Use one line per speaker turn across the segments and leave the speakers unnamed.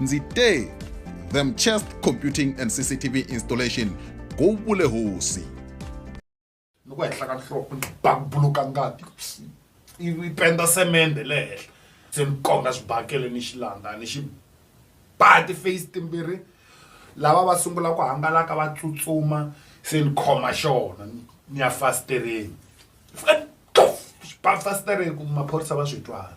ndzi te them chest computing and cctv installation go vule hosi
loko henhla ka nhloko ni bakubuluka ngati ivi penda semende le henhla se ni konga swibakele ni xilanda ni xi ba ti-face timbirhi lava va sungula ku hangalaka va tsutsuma se ni khoma xona ni ya fasitereni ba fasitereni ku maphorisa va swi twala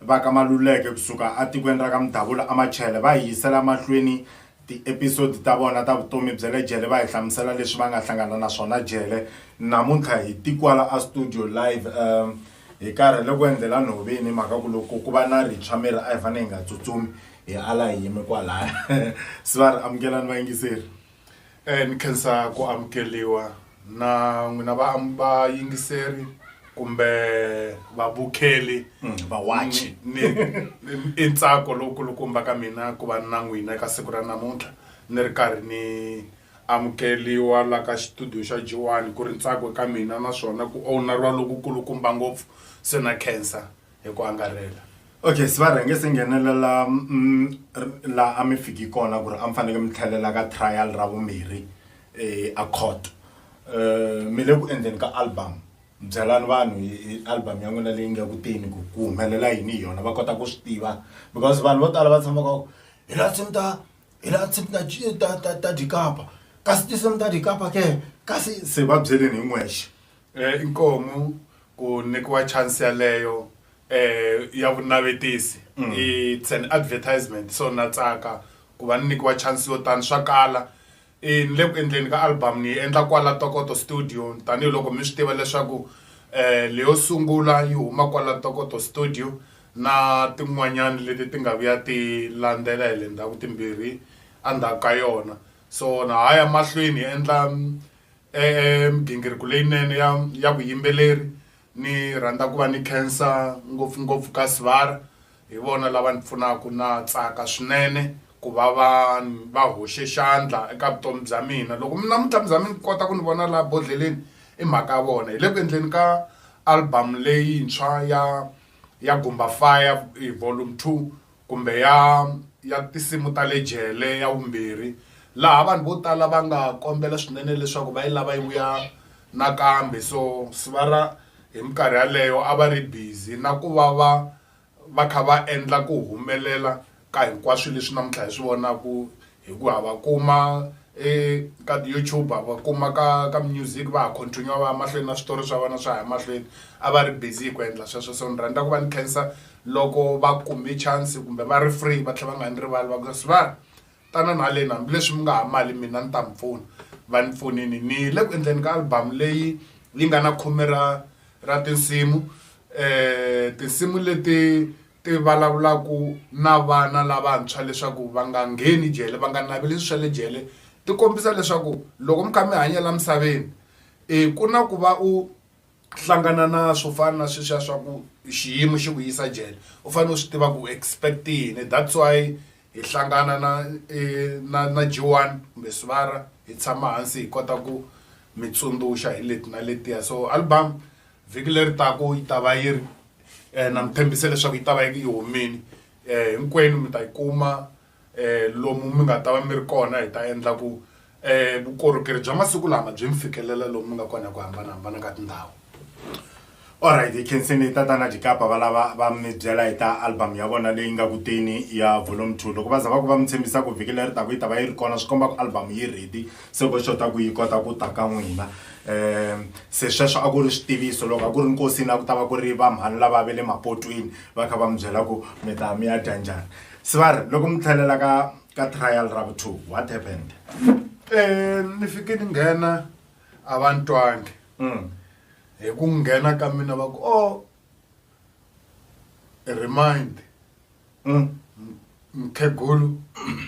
Va ka Maluleke ku suka etikweni ra ka Mudabula eMachele va hi yisela emahlweni tiepisodi ta vona ta vutomi bya le jele va hi hlamusela leswi va nga hlangana na swona jele. Namuntlha hi ti kwala estudio live hi karhele ku endlela nhoveni hi mhaka ku loko ku va na rintshwa miri a hi fanele hi nga tsutsumi hi ala hi yime kwalaya. Se va ri amukelani vayingiseri. E ni
khensa ku amukeliwa na n'wina va vayingiseri kumbe vabukheli vawachi
ni ni-
i ntsako lowukulukumba ka mina ku va ni na n'wina eka siku ra namuntlha ni ri karhi ni amukeliwa la ka xitudiyo xa joani ku ri ntsako eka mina naswona ku owneriwa lokukulukumba ngopfu se na khensa hi ku angarhela okay se va rhange
se nghenelela mm, laha a mi fiki kona ku ri a mi faneke mi tlhelela ka trial ra vumbirhi um a court um mi le ku endleni ka album byelani vanhu hi album ya n'wina leyi nga kuteni ku ku humelela yini hi yona va kota ku swi tiva because vanhu vo tala va tshamaka hi laha tsimi ta hi laha tsimi ta ta ta ta dikapa kasi tinsimu ta dikapa ke kasi se va byeleni hi n'wexe Inkomu
ku nikiwa chance yaleyo ya vunavetisi it's an advertisement so na tsaka ku va ni nikiwa chance yo tani swa kala ni le ku endleni ka album ni yi endla kwala Tokoto studio tanihiloko mi swi tiva leswaku leyo sungula yi huma kwala Tokoto studio na tin'wanyani leti ti nga vuya ti landzela hi le ndzhaku timbirhi endzhaku ka yona so na ha ya mahlweni hi endla E-e migingiriko leyinene ya ya vuyimbeleri ni rhandza ku va ni khensa ngopfungopfu ka Sibara hi vona lava ni pfunaka na tsaka swinene ku va va va hoxe xandla eka vutomi bya mina loko mi namuntlha mi za mi kota ku ni vona laha bodleleni i mhaka ya vona hi le ku endleni ka album leyintshwa ya ya Gumba Fire Volume Two kumbe ya ya tinsimu ta le jele ya vumbirhi laha vanhu vo tala va nga kombela swinene leswaku va yi lava yi vuya nakambe so Sibara hi minkarhi yaleyo a va ri busy na ku va va va kha va endla ku humelela ka hinkwaswo leswi namuntlha hi swi vonaka hikuva va kuma eka ti-YouTube va kuma ka ka music va ha continue va ya mahlweni na switori swa vona swa ha ya mahlweni a va ri busy hi ku endla sweswo so ni rhandza ku va ni khensa loko va kume chance kumbe va ri free va tlhela va nga ni rivali va ku Sibali tanani haleni hambileswi mi nga ha mali mina ni ta mi pfuna va ni pfunile ni le ku endleni ka album leyi yi nga na khume ra ra tinsimu tinsimu leti Ti vulavulaka na vana lavantshwa leswaku va nga ngheni jele, va nga naveli swilo swa le jele, ti kombisa leswaku loko mi kha mi hanya laha misaveni ku na ku va u hlangana na swo fana na sweswiya swa ku xiyimo xi ku yisa jele u fanele u swi tiva ku u expect yini that's why hi hlangana na na na Joan kumbe Sibara hi tshama hansi hi kota ku mi tsundzuxa hi leti na letiya so album vhiki leri taku yi ta va yi ri um na mi tshembise leswaku yi ta va yi humile um hinkwenu mi ta yi kuma um lomu mi nga ta va mi ri kona hi ta endla ku um vukorhokeri bya masiku lama byi mi fikelela lomu mi nga kona hi ku hambanahambana ka tindhawu
Alright, hi khensini tatana Dikapa va lava va mi byela hi ta album ya vona leyi nga kuteni ya volume 2 loko va za va ku va mi tshembisa ku vhiki leri taku yi ta va yi ri kona swi komba ku album yi ready se ko xota ku yi kota ku ta ka n'wina um se sweswo a ku ri switiviso loko a ku ri nkosini a ku ta va ku ri vamhani lava va le mapotwini va kha va mi byela ku mi ta mi ya dya njhani se va ri loko mi tlhelela ka ka trial ra vu two what happened um
ni fike ni nghena a va ni twangi hi ku nghena ka mina va ku o remind mm. mkhegulu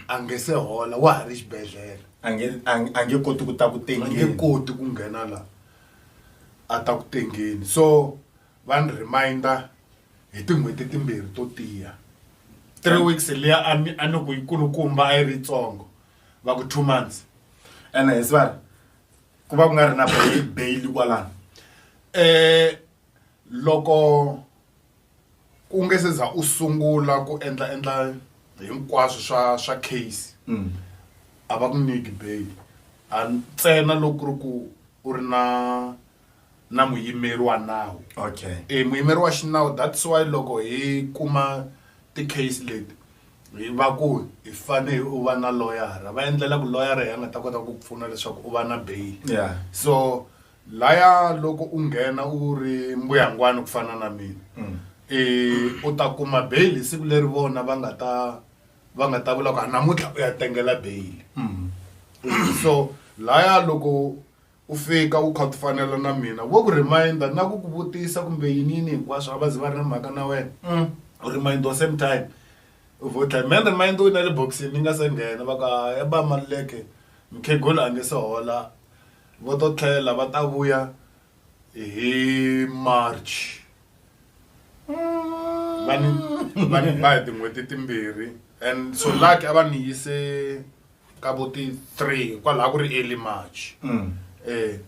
a nge se hola wa ha ri xibedhlele a nge a nge
koti ku ta ku tengeni a nge koti ku nghena
la a ta ku tengeni so va ni reminder hi tin'hweti timbirhi to tiya three weeks liya a ni a ni ku yikulukumba a yi ri yitsongo va ku two months ene hi svari
ku va ku nga ri na bail kwalano um eh,
Loko ku nga se za u sungula ku endla endla hinkwaswo swa swa case a va ku nyiki bail a ntsena loko ku ri ku u ri na na muyimeri wa nawu okay e muyimeri
wa xinawu
that's why loko hi kuma ti-case leti hi va ku hi fane u va na loyara va endlela ku loyara hi ya nga ta kota ku pfuna leswaku u va na bail ya so. Laya loko u nghena u ri mbuyangwana ku fana na mina i u ta kuma bail hi siku leri vona va nga ta va nga ta vula ku a namuntlha u ya tengela bail so laya loko u fika u kha u ti fanela na mina vo ku reminder na ku ku vutisa kumbe yini yini hinkwaswo a va zi va ri na mhaka na wena u reminder same time u vo tlhe man reminder u yi na le bokisini ni nga se nghena va ku hayi ba Maluleke mukhegula a nge se hola. Va to tlhela va ta vuya hi March. Va ni va ni ba hi tin'hweti timbirhi and so lucky a va ni yise ka vo ti three kwalaho ku ri early March. Eh,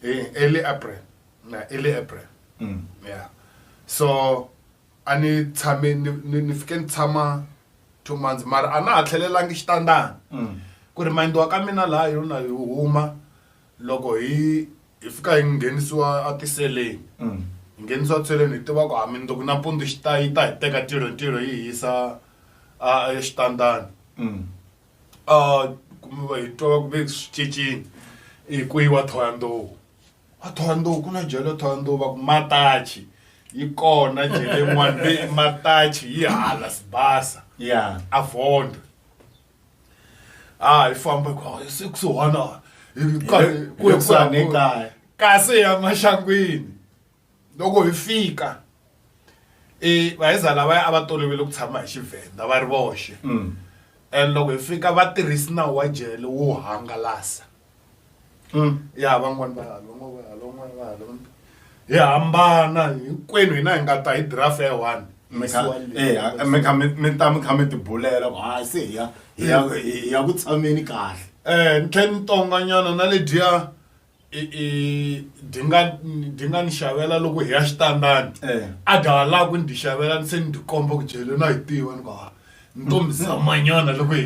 eh, early April, na early April. Yeah. So A ni tshame ni ni ni fike ni tshama two months mara a na ha tlhelelangi xitandani ku remind-iwa ka mina laha hi na hi huma loko hi hi fika hi nghenisiwa a tiseleni hi nghenisiwa tiseleni hi tiva ku ha mundzuku nampundzu xi ta yi ta hi teka tilo hi tilo yi hi yisa a exitandani a hi twa va ku ve swi cincile i ku yiwa Thohoyandou. wa thohandowu ku na jele thohandowu va ku matachi yi kona jele n'wana leyi matachi yi hala sibasa ya a
vondwe
a hi famba ku "Ah, se kusuhana hi ka- ku- kusuhana ekaya kasi ya maxangwini loko hi fika i vaheza lavaya a va tolovele ku tshama hi xivhenda va ri voxe mm. and loko hi fika va tirhisi nawu wa jele wo hangalasa mm. ya van'wani va halon'wana va halon'wana va halon'wana hi hambana hinkwenu hina hi nga ta hi draft ya one mi kha mi
ta mi kha mi tibulela ku hayi se hi ya hi ya ku tshameni kahle um ni tlhe ni tonganyana
na lediya i i dyi nga dyi nga ni xavela loko hi ya xitandani eh. a dya ha lava ku ni dyi xavela ni se ni dyi komba ku dyele na hi tiva ni ku ha ntombi zamanyana loko hi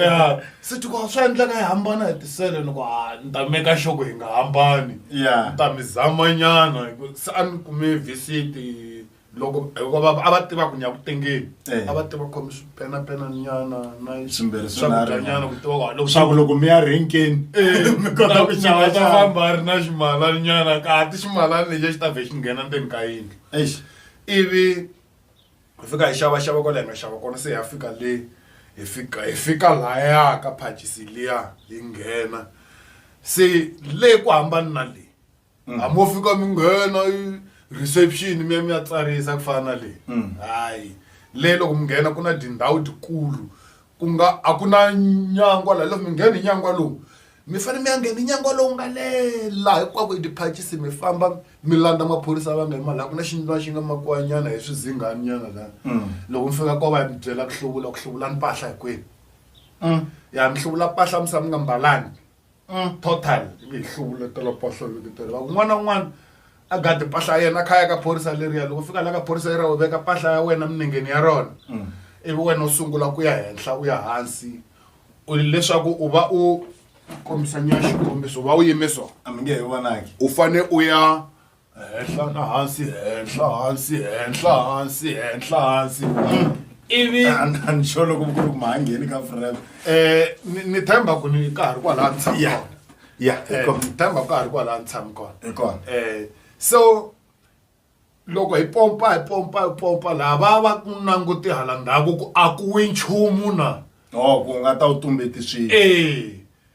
ya se ti ku swa endleka hi hambana hi tisele ni ku ha ni ta meka xoko hi nga hambani ni ta mi zamanyana se a ni kume visiti loko hikuva a va tiva ku nyakutengeni eh. a va tiva khomi swipenapenanyana na swakudyanyana ku tiva walo swaku loko mi ya renkeni
eh, mi kota ku xava ta famba a ri na
ximalanyana ka ti ximalani lexi a xi ta vhe xi nghena ndzeni ka yindlu ivi hi fika hi xava xava kwala hi nga xava kona se hi ya fika le hi fika hi fika laya ka phachisi liya hi nghena se le ku hambani na le Mm. hambi wo fika mi nghena i- reception mi ya mi ya tsarisa ku fana na leyi Mm. hayi leyi loko mi nghena ku na tindhawu tikulu ku nga a ku na nyangwa laha loko mi nghena hi nyangwa lowu mi fanele mi ya nghena hi nyangwa lowu nga lela hinkwako i tiphachisi mi famba mi landza maphorisa va nga yima laha ku na xindlwana xi nga makiwanyana hi swizinganinyana laha Mm. loko mi fika ko va ya mi byela ku hluvula ku hluvula mpahla hikwenu Mm. ya mi hluvula mpahla mi sa mi nga mbalangi Mm, total yi hluvuletela poso vikiteri va kun'wana na un'wana a gadi mpahla ya yena a kha ya ka phorisa leriya loko fika la ka phorisa leriya u veka mpahla ya wena minengeni ya rona mm. ivi wena u sungula ku ya henhla u ya hansi u leswaku u va u kombisa nyana xikombiso u va u yime so a mi nge he vonaki
u fane u ya
henhla na hansi henhla hansi henhla hansi henhla hansi ivi ni xo
loko ku ri ku ma ha ngheni ka frem um ni
themba ku ni ka ha ri kwalaha ni tshama kona ya ni
themba ku ka
ha ri kwalaha ni tshama kona hi
kona um
so loko hi pompa hi pompa hi pompa laha va va ku languti hala ndhaku ku a ku wi nchumu na o ku nga ta wu
tumbeti swilo ee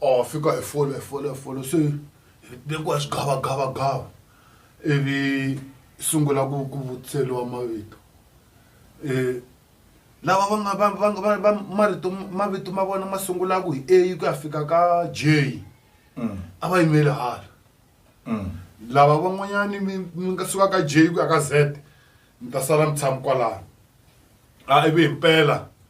or fika hi folo hi folo hi folo se hi tekiwa swigavagavagava ivi sungula ku ku vutiseriwa mavito um lava va nga va va nga va va marito mavito ma vona ma sungulaka hi a ku ya fika ka j a va yimeli hala lava van'wanyani mi mi nga suka ka j ku ya ka z mi ta sala mi tshami kwalano a ivi himpela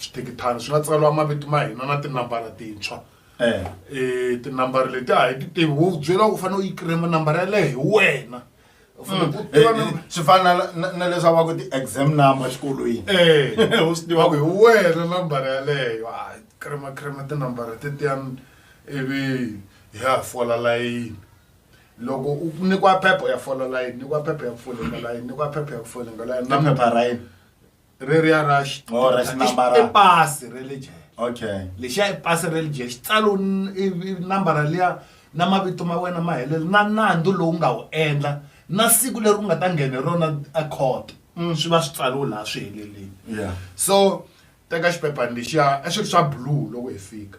switekithana swi nga tsariwa mavito ma hina na tinambara tintshwa eh. eh, tinambara leti a hi ti tivi wo byela u fanele u yi kirema nambara yaleyo hi wena mm.
eh, swi fana na leswi va ku ti-exam number xikolweni u swi tiva
ku hi wena nambara yaleyo a kirema kirema tinambara tetiyani ivi hi ya fola layini loko u nyikiwa phepha u ya fola layini nyikiwa phepha ya ku folenga layini nyikiwa phepha ya ku folenga layini na phepha ra yini
reriya ra
Oh, ra xinambara. i pasi ra le jele okay lexiya
i pasi ra
le jele xi tsalo n- i- i- nambara liya na mavito ma wena ma helele na nandzu lowu nga wu endla na siku leri u nga ta nghena hi rona ekhoto swi va swi tsariwe laha swi helelile yeah so teka xiphephani lexiya a xi ri swa blue loko hi fika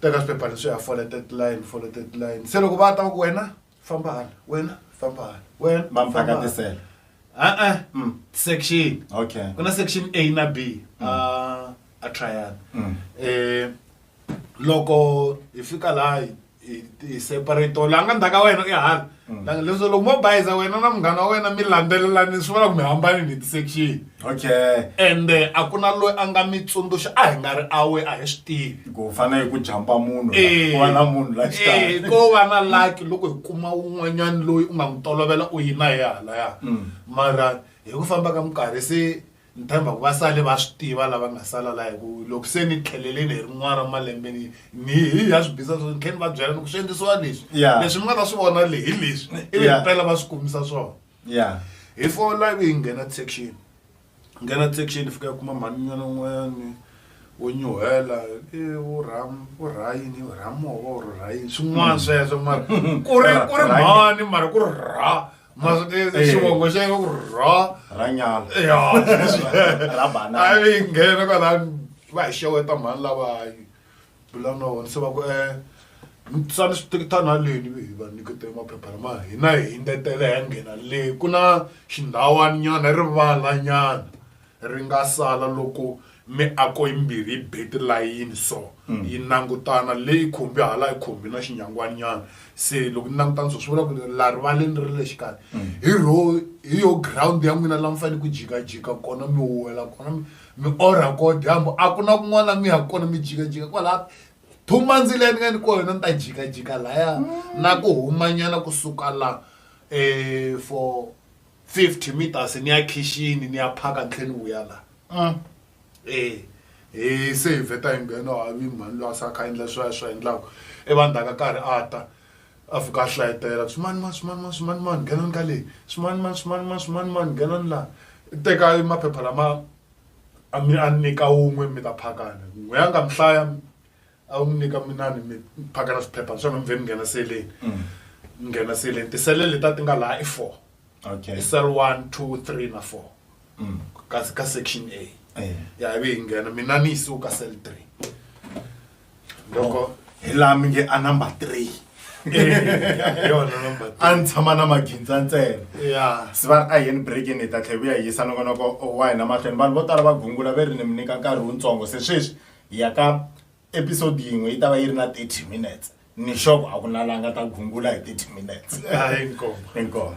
teka swiphephana swi ya foletet line foletet line se loko va ta va ku wena famba hala wena famba hala wena Va
mi famba hala. vakatisela. a-a Mm. section
Okay. ku na section
a na
b a a trial Mm. eh loko hi fika laha hi- hi- hi separate la nga ndzhaka wena i hala Mm. La- leswo loko mo bayiza wena na munghana wa wena mi landzelelani swi vula ku mi hambanini hi ti-section okay
ende a ku
na loyi a nga mi tsundzuxa a hi nga ri awe a hi swi tivi ku fana hi ku jampa
munhu Eh, ku va na munhu la eh, xitalo ko va na laki
loko hi kuma un'wanyani loyi u nga n'wi tolovela u yina hi halaya Mm. mara hi ku famba ka minkarhi se ni tshemba ku va sale va swi tiva lava nga sala la hi ku loko se ni tlheleleni hi rin'wana ra malembe ni ni hi ya swi bisa swo ni tlhela ni va byela ni ku swi endlisiwa leswi Yeah. leswi mi nga ta swi vona le hi leswi ivi Yeah. mpela va swi kumisa swona ya hi four live hi nghena section nghena section fika kuma mhani nyana un'wanyani wo nyuhela e wo ram wo rhayini wo ramova or rhayini swin'wana hmm. sweswo mara ku ri ku ri mhani mara ku ri ra xivongo xa yena ku ri ra ranyala
ya ra banana
a yi nghena kwalani va hi xeweta mhani lavayi bula na wona se va ku um mi tsani switekitani haleni ivi hi va nyikete maphepha lama hina hi ndetele hi ya nghena le ku na xindhawani nyana rivala nyana ri nga sala loko miako yimbirhi yi be tilayini so yi langutana leyi khumbi hala yi khumbi na xinyangwani nyana se loko ni langutana so swi vula ku la rivaleni ri le xikarhi hi ro hi yo ground ya n'wina la mi fanele ku jikajika kona mi huwela kona mi mi orha ko dyambu a ku na kun'wana mi ya kona mi jikajika kwalaha thuma ndzile ni nga ni ko yona ni ta jikajika laya mm. na ku humanyana kusuka la um for fifty meters ni ya khixini ni ya phaka ni tlhela ni vuya laha mm. e hi se hi vheta hi nghena havi mhani loyi a sa kha endla swa swa endlaka i e, vanhu ta ka karhi a ta A fika a hlayetela ku, Swimanimani, swimanimani, swimanimani, nghenani ka leyi. Swimanimani, swimanimani, swimanimani, nghenani laha. Tekani maphepha lama a mi a nyika wun'we mi ta phakana. N'we a nga mi hlaya, a n'wi nyika minani mi phakana swiphepha ni swona mi vhe mi nghena seleni. Mi nghena seleni. Tisele letiya ti nga laha i four. Okay. I cell
one,
two, three na four. Ka ka section A. Eya. Ya ivi hi nghena, mina ni yisiwe ka cell three. loko hi laha mi nge a
number three
hi yona number three. a ni tshama na magindza
ntsena ya se va ri
a yeni
breakini hi ta tlhe vuya hi yisa nongonoko wa hina mahlweni vanhu vo tala va gungula ve ri ni mi nyika nkarhi wutsongo se sweswi hi ya ka episode yin'we yi ta va yi ri na 30 minutes ni xoko a ku na la nga ta gungula hi 30 minutes hayi nkombo inkomo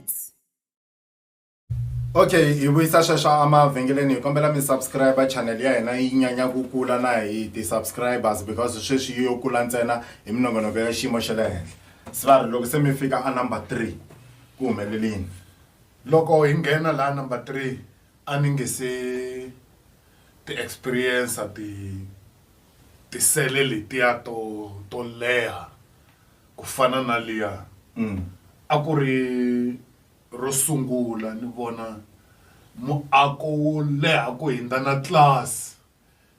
okay hi vuyisa sweswo emavhengeleni hi kombela mi subscribe channel ya hina yi nyanya ku kula na hi ti-subscribers because sweswi yi yo kula ntsena hi minongonoko ya xiyimo xa le henhla se va ri loko se mi fika a number three ku humelelini loko
hi nghena laha number three a ni nge se ti-experience ti tisele letiya to to leha Ku fana na liya a ku ri ro sungula ni vona muako wo leha ku hindza na tlilasi.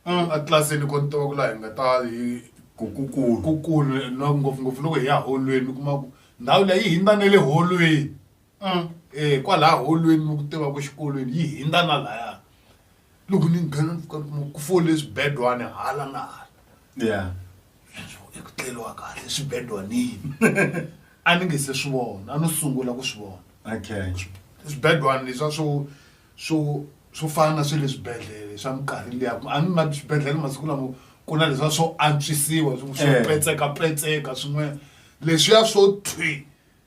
Etlilasini ko ni tiva ku laha hi nga ta hi ku kulu ngopfungopfu loko hi ya holweni u kuma ku ndhawu liya yi hindza na le holweni kwalaya holweni ni ku tiva ku exikolweni yi hindza na lahaya. loko ni nghena ni pfuka ni kuma ku fole swibedwana hala na hala yeah eku tleliwa kahle swibedwanini a ni nge se swi vona a no sungula ku swi vona okay
swibedwana
leswa swo swo swo fana na swe le swibedhlele swa minkarhi liya a ni ma swibedhlele masiku lamo ku na leswa swo antswisiwa swo eh. petsekapetseka swin'wana leswiya swo thwi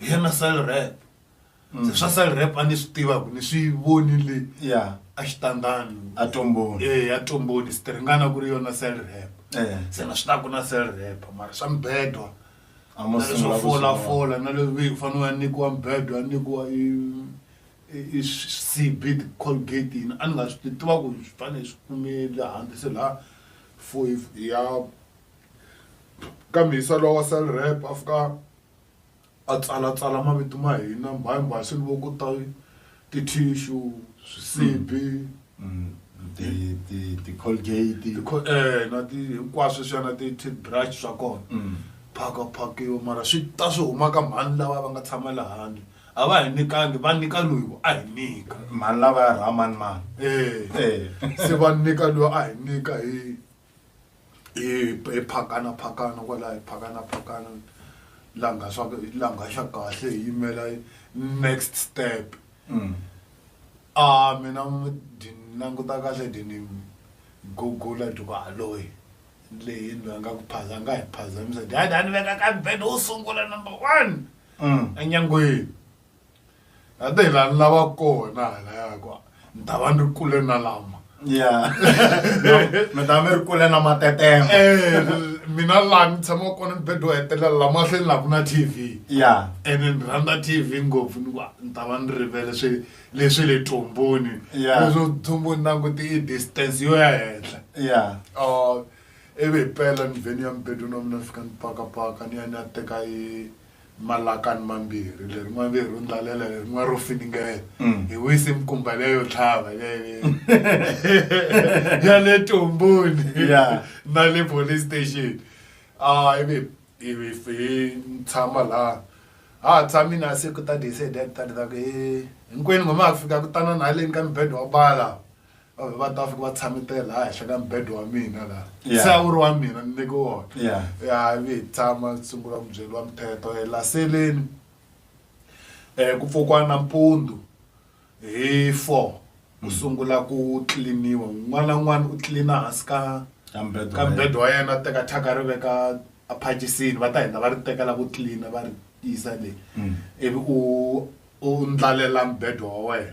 hi yena sal rap se swa sal rap a ni swi tivaku ni swi vonile yeah a xitandani a tomboni e
a tomboni swi
tiringana ku ri yona sal rap eh se na swi taku na sal rap mara swa mbedwa a mo na leswo sungula ku fola sungula. fola na leswi ve fanele wa nyikiwa mbedwa nyikiwa i i- i cb colgate yini a ni nga swi ti- tiva ku swi fanele swi kumele handle se laha fo ya kambe yisa lowa wa sal rep a fika a tsalatsala mavito ma hina mbaye mbaye swi loko ta tithishu swisibi
ti-colgate eh, na ti
hinkwaswo swi ya na ti-toothbrush swa kona mm. phaka phakiwa mara swi ta swi huma ka mhani lava va nga tshama le handle a va hi nyikangi va nyika loyi a hi nyika mhani lava ya rhamani
mani e eh.
eh. se va nyika
loyi
a hi nyika hi hi hi phakana phakana kwalaho hi phakana phakana la nga swa la nga xa kahle hi yimela next step mm. a ah, mina ndi languta kahle ndi ni gugula ndi ku haloyi leyi ndzi nga ku phaza nga hi phazamisa ndi hayi ni veka ka bed wo sungula number one mm. enyangweni ate hi la ni lava kona halaya ku ni ta va ni ri kule na lama ya mi
ta mi ri kule na matetema eh, mina
laha ni tshama kona ni bedo hetelela la mahlweni laha ku na t v ya ene ni rhandza t v ngopfu ni ku ni ta va ni rivele swi leswi le tumbuni leswo tumbuni na ku ti i distance yo ya henhla ya ah, ivi hi pela ni vheni ya mibedo na mina ni fika ni pakapaka ni ya ni ya teka i malakani mambirhi lerin'wana ve ro ndlalela lerin'wana ro finingela mm. hi wise mikumba leyo tlhava lele ya le tomboni na le police station a ah, ivi ivi hi tshama laha ha tshami na siku ta decide ta leswaku hi hinkwenu ngoma ya ku fika ku tana na haleni ka mibedwa wa bala va ta fika va tshame te laha henhla ka mbedo wa mina laha Yeah. se a wu ri wa mina ni neke wona Yeah. ya ivi hi tshama hi sungula ku byeriwa mithetho Eh, la seleni um ku pfukiwa nampundzu hi four ku sungula ku tliliniwa un'wana na un'wana u tlilina hansi ka Ka mbedo ka wa mbedo wa yena a teka thyaka ri veka aphachisini va ta hindza va ri teka la ku tlilina va ri yisa le ivi u u ndlalela mbedo wa wena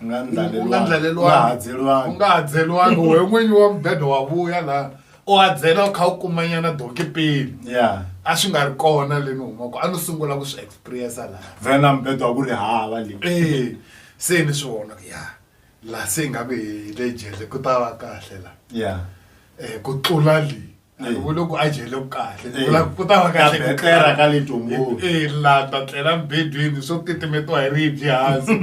u nga ndlalelwangi u nga hadzelwangi wehe n'winyi wa mubedo wa vuya laha u hadzela u kha u kumanyana donki pele ya a swi nga ri kona le ni humaka a ni sungula ku swi experience laha vhena mubedo wa ku ri
hava le e se ni swi
vona ku ya laha se hi nga ku hi le jele ku ta va kahle laha ya um ku tlula le a ni vuli ku a jele ku kahle ni vula ku ta va kahle ku tlela ka le tongoni
e la ta tlela
mbedweni swo titimetiwa hi ribye hansi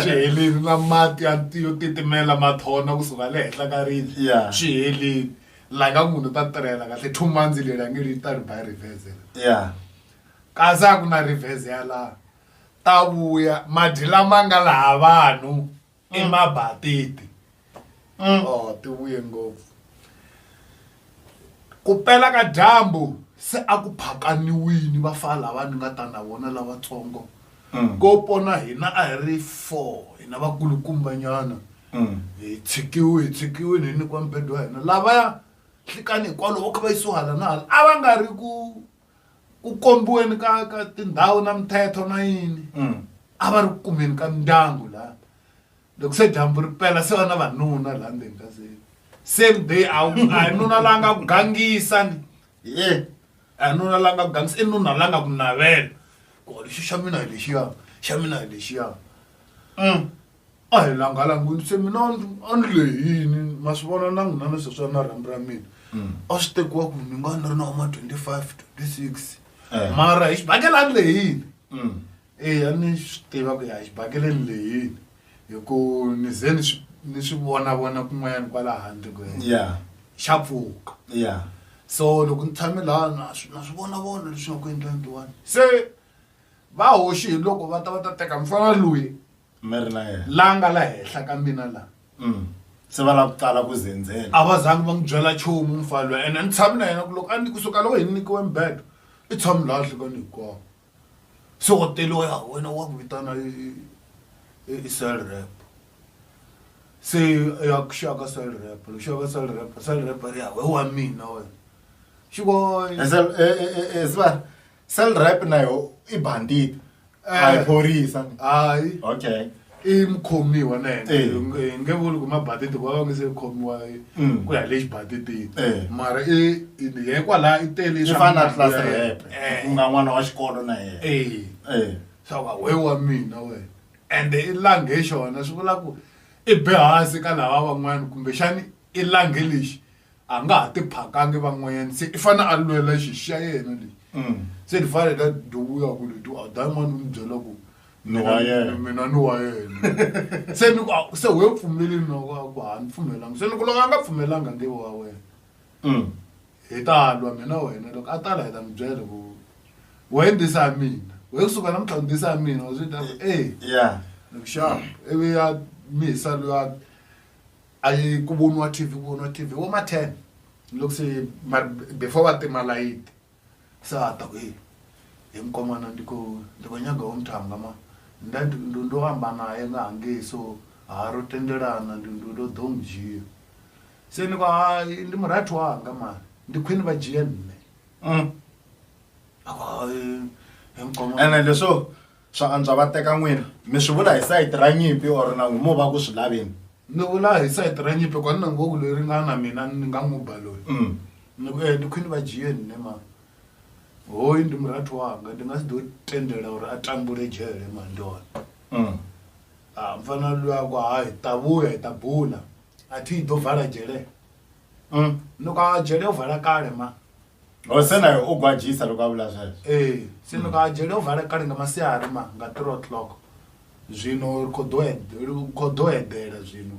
swi helini na mati ya yo titimela mathona kusuka le henhla ka ribye swi helini la ka munhu ta tirhela kahle two months leri a nge ri ta ri by reverse ya kasi a ku na reverse ya laha ta vuya madyi lama nga laha vanhu i mabatiti Mm. oh ti vuye ngopfu ku pela ka dyambu se a ku phakaniwini vafana lava ni nga ta na vona lavatsongo Mm. ko pona hina a hi ri four hina vakulukumbanyana Mm. hi tshikiwe hi tshikiwini hi nyikiwa mphedo wa hina lavaya hlikani hikwalo vo kha va yisiwa hala na hala a va nga ri ku ku kombiweni ka ka tindhawu na mithetho na yini mm. a va ri ku kumeni ka mindyangu laha loko se dyambu ri pela se va na vanuna laha ndzeni ka se same day a hi nuna la nga ku gangisa ni ye a hi nuna la nga ku gangisa i nuna la nga ku navela ku lexi xa mina hi lexiya xa mina hi lexiya mm. a hi langalangwini se mina a ni lehini ma swi vona na n'wina ni sweswi a na rhambi ra mina mm. a swi tekiwa ku ni nga ni ri na wama 25 26 eh. mara hi xibakele a ni lehini mm. eya ni swi tiva ku ya hi xibakele ni lehini hi ku ni ze ni swi ni swi vona vona kun'wanyana kwala handle ku ya xa pfuka ya so loko ni tshame laha na swi na swi vona vona leswi nga ku endlangiwani se va hoxi hi loko va ta va ta teka mfana loyi mi ri na yena la nga la henhla ka mina la se va
lava ku tsala ku zendzela a va zangi va n'wi byela
nchumu mufana loyi ene a ni tshami na yena ku loko a ni kusuka loko hi ni nyikiwe mibedo i tshami laha nhlikani hinkwawo se wa teliwa ya wena wa ku vitana i cell rep se ya ku xaka cell rep loko xaka cell rep cell rep ri ya we wa mina wena xiko swa
Cell rep na yo i bandit. A hi phorisa. Hayi.
Okay.
i mukhomiwa
na yena Eh. Hi nge- hi nge vuli ku mabaditi ku va va nge se khomiwa hi- Mm. ku ya le xibaditini Eh. mara i i- ye kwalaha i tele Swi fana na class rep.
Eh. Ku nga n'wana wa xikolo na yena. Eh. Eh. swa va we wa
mina wena ende i langhe xona swi vula ku i be hansi ka lava van'wana kumbexani i langhe lexi a nga ha tiphakangi van'wanyana se i fane a lwela xi xa yena lexi mm. se ni fane ta dowuya ku leti a da yin'wana ni byela ku mina ni wa yena se ni ku se we pfumeleni no ku ha ni pfumelanga se ni ku loko a nga pfumelanga nge wa wena mm. hi ta lwa mina wena loko a ta la hi ta mi byela ku we ndisa ya mina we kusuka namuntlha u ndisa ya mina wa swi ta ku e loko xana ivi ya mi hisa luyani A yi ku voniwa TV ku voniwa TV vo ma ten ni loko se mara before va tima layiti se a ta ku heyi he mkon'wana ni ku ni ku nyanga wo mtanga ma then ndhundhu wo hamba naye nga ha nge so ha ro tendelana ndhundhu lo do n'wi jiya se ni ku hayi ndi murhathu wanga mani ndi khwini va jiye nne a ku hayi
he mkon'wana ene leswo. Swa antswa va teka n'wina. Mi swi vula hi sayiti ra nyimpi or nangu mo va ku swi laveni? Ni vula hi
sayiti ra nyimpi hikuva ni nangu wo ku loyi ri nga na mina ni nga n'wi ba loyi. Ni ku, E, ni khwini va jiyeni ne mhani. Hoyu ndi murathu wanga, ndi nga si do tendela uri a tambule jele mhani ndi hone. Ha, mfana luya a ku, Hayi, hi ta vuya, hi ta bula. A thi hi do vala jele. mm. loko a jele u vhala kale ma o oh, se naye
u gwajisa loko a vula sweswo e se loko a jele u
vhala kale nga masiari ma nga three o'clock zwino khoḓo eḓela zwino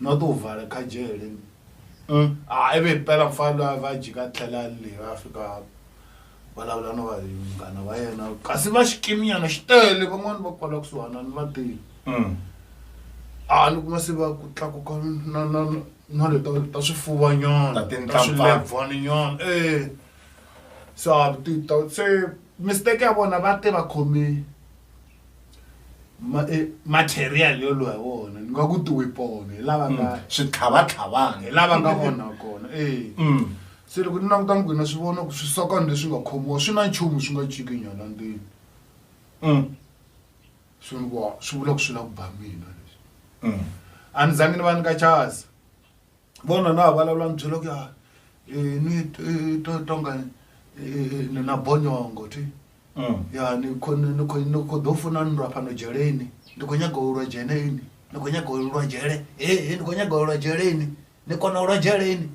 no ḓo u vhala kha jele mm. a ive pela mfalwa va jika tlhela le va fika vulavula no va munghana wa yena kasi va xikiminyana xi tele van'wani va kwala kusuhana ni va tele mm. a ni kuma se va ku tlakuka na le ta ta swifuva nyana Ta tinhlampfana. swilebvani nyana e sa ti ta se mistake ya vona va te va khome ma- eh, material yo lwa hi wona ni nga ku tiwipone hi lava nga hi switlhavatlhavana
lava nga vona
kona e Mm. se loko ni languta ni gwina swi vona ku swisokana leswi nga khomiwa swi na nchumu swi nga ciki nyana ndini Mm. Swiluva swi vula ku swi lava ku ba mina leswi a ni zangi ni va nyika chance vona na ha vulavula ni byela ku ya ni to tonga ni na bonyongo ti ya ni kho ni kho ni kho ḓo funa ni lwa fhano dzheleni ndi khou nyaga u lwa dzheneni ndi khou nyaga u lwa dzhele he ndi khou nyaga u lwa dzheleni ni kona u lwa dzheleni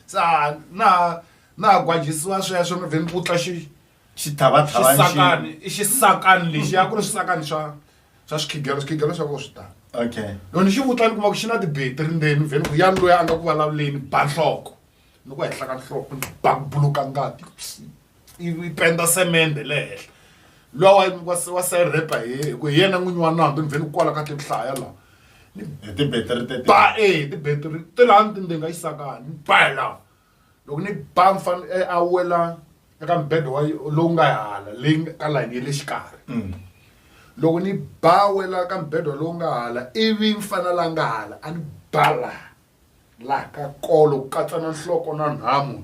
sa na na gwadzhisiwa sweswo ni vhe ni vutla xi xithavathavani xisakani i xisakani lexi ya ku ri swisakani swa swa swikhigelo swikhigelo swa vona swi tala okay loko ni xi vutla ni kuma ku xi na tibetiri ndzeni vheni ku ya loyi a nga ku vulavuleni ba nhloko ni ku henhla ka nhloko ni ba ku buluka ngati yi yi penda semende le henhla luwa wa wa wa serepa hi hi ku hi yena n'winyi wa nandzu ni vheni ku kwala ka ti hlaya laha hi tibetiri
tete ba e
tibetiri ti laha ni tindinga yi sakani ni ba hi laha loko ni ba mfana eh, a wela eka mbedo wa lowu nga hala leyi ka layini ya le xikarhi mm. loko ni ba wela ka mbedo lowu nga hala ivi mfana la nga hala a ni bala la ka kolo ku katsa na nhloko na nhamu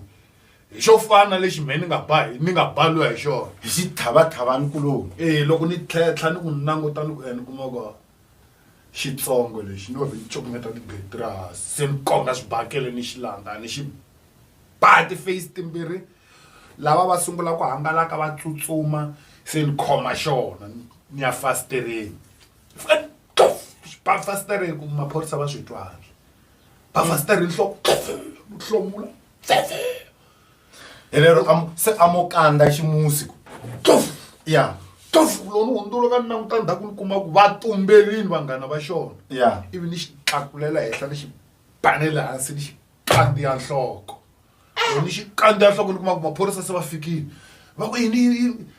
hi xo fana lexi mhe ni nga ba ni nga baliwa hi xona hi xithavathavani
kulowu ee loko ni tlhetlha
ni ku languta ni ku ene eh, kuma ku xitsongo lexi no ri cukumeta tigate ra hasi se ni konga swibakele ni xi landza ni xi ba ti-face timbirhi lava va sungula ku hangalaka va tsutsuma se ni khoma xona ni ya fasitereni ba fasitereni ku maphorisa va swi twa handle ba fasitereni nhloko hlomula
helero am- se a mo kandza ximusi ku tof ya tof lowu
ni hundzula ka ni languta ndzhaku ni kuma ku va tumberini vanghana va xona ya ivi ni xi tlakulela henhla ni xi banele hansi ni xi kandziya nhloko loko ni xi kandziya nhloko ni kuma ku maphorisa se va fikile va ku yini yini- yini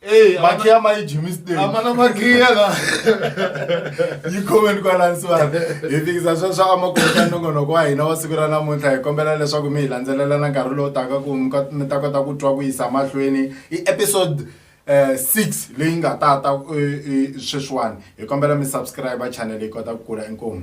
Hey, makiya ma yi jimmy state amana makiya la yi comment kwalani sivana hi fikisa swa swa amakoka nongonoko wa hina wa siku ra namuntlha hi kombela leswaku mi hi landzelelana nkarhi lowu taka ku mi ta kota ku twa ku yisa mahlweni i episode eh, six leyi nga ta ta eh, eh, sweswiwani hi kombela mi subscribe channel yi kota ku kula inkomu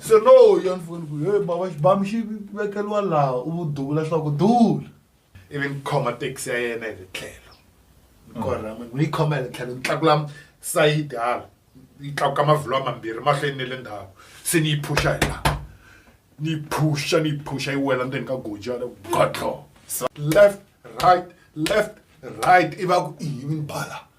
se no ya ni foni ku he bava xibamu xi vekeliwa laha u vu duvula swa ku dula ivi ni khoma taxi ya yena hi le tlhelo ni korha mm. ni yi khoma hi le tlhelo ni tlakula sayiti hala yi tlakuka mavhilwa mambirhi mahlweni ni le ndhawu se ni yi phusha hi laha ni yi phusha ni yi phusha yi wela ndzeni ka goji yale godlo left right left right i va ku i yivi ni bala